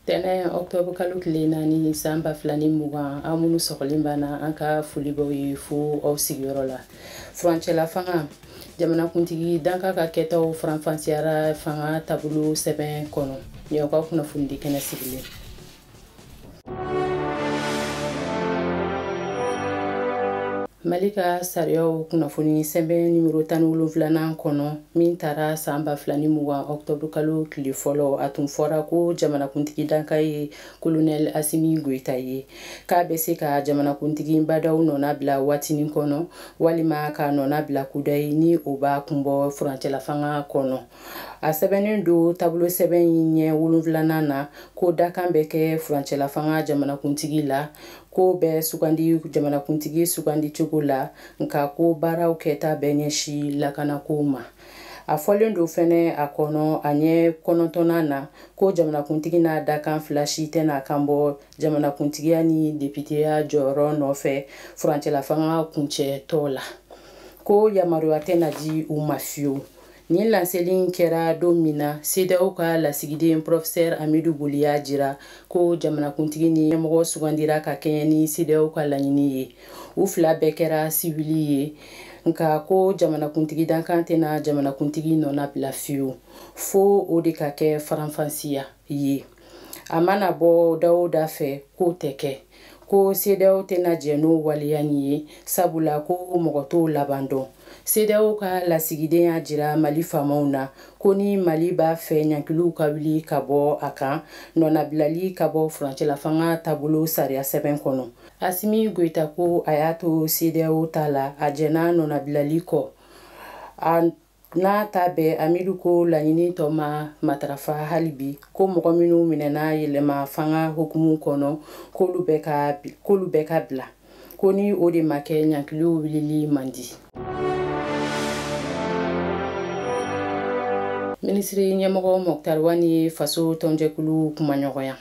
tɛnɛn ɔktɔbr kalo tile naani san ba fila ni mugan an minnu sɔgɔlen b'an na an ka foli b'aw ye fo aw sigiyɔrɔ la furancɛla fanga jamanakuntigi dankan ka kɛtaw faranfasiyara fanga taabolo sɛbɛn kɔnɔ nin aw ka kunnafonidi kɛnɛ sigilen mali ka sariyaw kunnafoni sɛbɛn nimero tan ni wolonfilanan kɔnɔ min tara san ba fila ni mugan ɔktɔburu kalo tile fɔlɔ a tun fɔra ko jamanakuntigi dankan ye kolonɛl asimi goyita ye k'a bɛ se ka jamanakuntigi ba ndaw nɔnabila waatinin kɔnɔ walima k'a nɔnabila kudayi ni o b'a kun bɔ furancɛlafanga kɔnɔ a sɛbɛnnen don taabolo sɛbɛn in ɲɛ wolonfilanan na ko dankan bɛ kɛ furancɛlafanga jamanakuntigi la k'o bɛ sugandi jamanakuntigi sugandi cogo la nka k'o baara kɛta bɛ ɲɛsi lakanako ma a fɔlen don fɛnɛ a kɔnɔ a ɲɛ kɔnɔntɔnnan na ko jamanakuntigi n'a dankan fila si tɛna kan bɔ jamanakuntigiya ni depiteya jɔyɔrɔ nɔfɛ furancɛlafanga kuncɛtɔ la ko yamaruya tɛna di u ma fiyewu Nin laseli in kɛra don min na CEDEAO ka lasigiden Professeur Amidu Boli y'a jira ko jamanakuntigi ni ɲɛmɔgɔ sugandira ka kɛɲɛ ni CEDEAO ka laɲini ye. U fila bɛɛ kɛra siwili ye, nka ko jamanakuntigi dankan tɛna jamanakuntigi nɔnabila fiyewu, fo o de ka kɛ faranfasiya ye. A mana bɔ da o da fɛ, k'o tɛ kɛ. ko CEDEAO tɛna jɛn n'o waleya in ye sabula ko mɔgɔ t'o laban dɔn CEDEAO ka lasigiden y'a jira Mali faamaw na ko ni Mali b'a fɛ ɲankiliw ka wuli ka bɔ a kan nɔnabilali ka bɔ furancɛlafanga taabolo sariya sɛbɛn kɔnɔ Asimi Goita ko a y'a to CEDEAO ta la a jɛnna nɔnabilali kɔ a n'a ta bɛɛ amidu ko laɲini tɔ ma matarafa hali bi ko mɔgɔ minnu minɛna yɛlɛma fanga hukumu kɔnɔ k'olu bɛɛ ka bila ko ni o de ma kɛ ɲankiliw wulili man di minisiri ɲɛmɔgɔ mɔkutari wani ye faso tɔnjɛkulu kumaɲɔgɔnya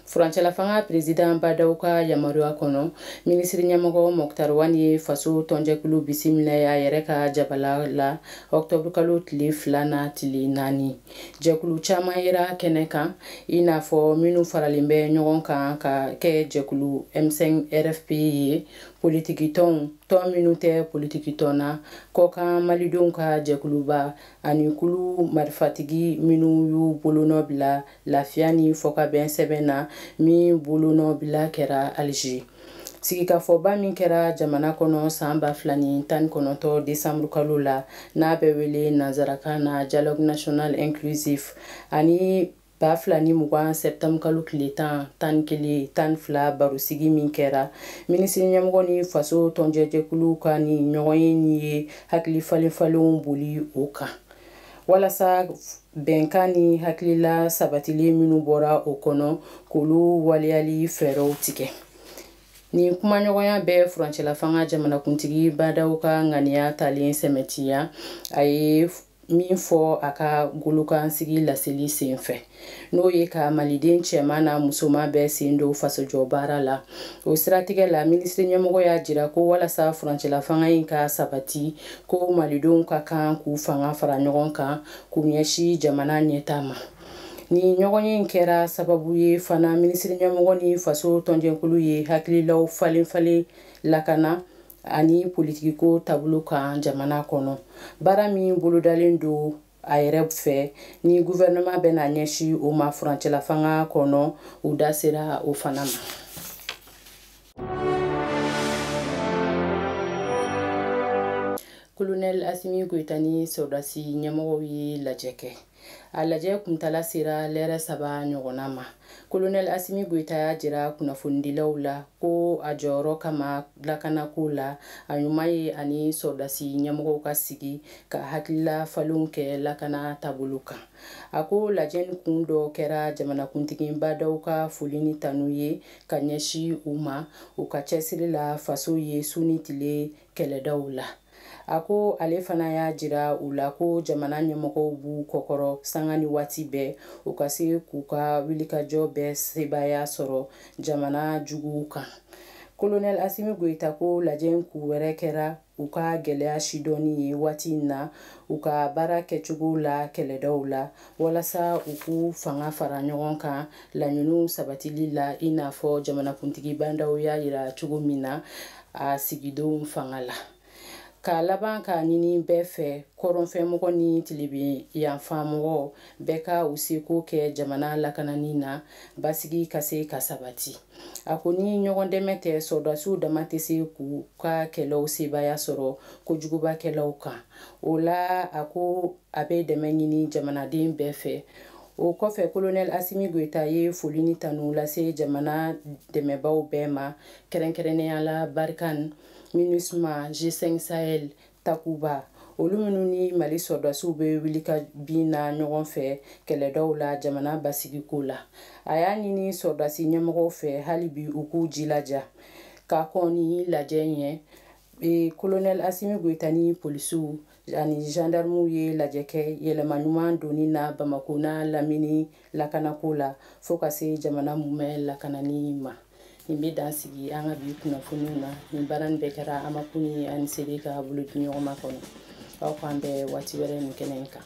furancɛlafanga perezidan ba ndaw ka yamaruya kɔnɔ minisiri ɲɛmɔgɔ mɔktar wan ye faso tɔnjɛkulu bisimila a yɛrɛ ka jabala la ɔktɔburukalo tile fila na tile naani jɛkulu caman yera kɛnɛ kan i n'a fɔ minnu faralen bɛ ɲɔgɔn kan ka kɛ jɛkulu m5 rfp ye politikitɔnw tɔn minnu tɛ politikitɔn na kɔkan malidenw ka jɛkuluba ani kulu marifatigi minnu y'u bolonɔ bila lafiya ni fɔkabɛn sɛbɛn na min bolonɔbila kɛra alger sigikafɔba min kɛra jamana kɔnɔ san ba fila ni tan ni kɔnɔntɔ desanburu kalo la n'a bɛ wele nansarakan na dialogue national inclusif ani ba fila ni mugan sɛptanburu kalo tile tan tan ni kelen tan ni fila barosigi min kɛra minisiri ɲɛmɔgɔ ni faso tɔnjɛjɛkulu ka nin ɲɔgɔnye nin ye hakili falenfalenw boli o kan walasa bɛnkan ni hakilila sabatilen minnu bɔra o kɔnɔ k'olu waleyali fɛɛrɛw tigɛ nin kumaɲɔgɔnya bɛ furancɛlafanga jamanakuntigi ba ndaw ka ŋaniya talen sɛmɛntiya a ye min fɔ a ka golokansigi laseli senfɛ n'o ye ka maliden cɛman n'a musoman bɛɛ sen don fasojɔ baara la o siratigɛ la minisiri ɲɛmɔgɔ y'a jira ko walasa furancɛlafanga in ka sabati ko malidenw ka kan k'u fanga fara ɲɔgɔn kan k'u ɲɛsi jamana ɲɛtaa ma nin ɲɔgɔnye in kɛra sababu ye fana minisiri ɲɛmɔgɔ ni faso tɔnjɛkulu ye hakililaw falenfalen lakana ani politikiko taabolo kan jamana kɔnɔ baara min bolodalen don a yɛrɛ fɛ ni guvɛrɛnɛman bɛna ɲɛsi o ma furancɛlafanga kɔnɔ u da sera o fana ma kolonɛl asimi goyita ni sɔrɔdasi ɲɛmɔgɔw ye lajɛ kɛ a lajɛ kuntala sera lɛrɛ saba ɲɔgɔnna ma kolonɛl asimi goyita y'a jira kunnafonidilaw la ko a jɔyɔrɔ kama lakanako la a ɲuman ye a ni sɔrɔdasi ɲɛmɔgɔw ka sigi ka hakilila falenw kɛ lakana taabolo kan a ko lajɛ nin kun dɔ kɛra jamanakuntigi ba ndaw ka foli ni tanu ye ka ɲɛsi u ma u ka cɛsiri la faso ye su ni tile kɛlɛdaw la a ko ale fana y'a jira u la ko jamana ɲɛmɔgɔw b'u kɔkɔrɔ sanga ni waati bɛɛ u ka se k'u ka wilikajɔ bɛɛ sebaaya sɔrɔ jamana juguw kan kolonɛl asimi goyita ko lajɛ in kun wɛrɛ kɛra u ka gɛlɛya sidɔnni ye waati in na u ka baara kɛcogo la kɛlɛdaw la walasa u k'u fanga fara ɲɔgɔn kan laɲiniw sabatili la i n'a fɔ jamanakuntigi ba ndaw y'a yira cogo min na a sigidon fanga la ka laban k'a ɲini bɛɛ fɛ kɔrɔnfɛmɔgɔ ni tilebin yanfamɔgɔ bɛɛ ka u seko kɛ jamana lakanani na basigi ka se ka sabati a ko ni ɲɔgɔn dɛmɛ tɛ sɔrɔdasiw dama tɛ se k'u ka kɛlɛw sebaaya sɔrɔ kojugubakɛlaw kan o la a ko a bɛ dɛmɛ ɲini jamanaden bɛɛ fɛ o kɔfɛ kolonɛl asimi goyita ye foli ni tanu lase jamana dɛmɛbaw bɛɛ ma kɛrɛnkɛrɛnnenya la barikan minusma g5 sahel takuba olu minnu ni mali sɔrɔdasiw bɛ wuli ka bin na ɲɔgɔn fɛ kɛlɛdaw la jamana basigiko la a y'a ɲini sɔrɔdasi ɲɛmɔgɔw fɛ hali bi u k'u jilaja ka kɔn ni lajɛ ɲɛ e kolonɛl asimi goyita ni polisiw ani zandarmuw ye lajɛ kɛ yɛlɛma ɲuman donni na bamako n'a lamini lakanako la fɔɔ ka se jamana mumɛ lakanani ma nin bɛ dan sigi an ka bi kunnafoniw na nin baara nin bɛɛ kɛra amakuni ani sebe ka bolodiɲɔgɔnma kɔnɔ aw k'an bɛn waati wɛrɛ nin kɛnɛ in kan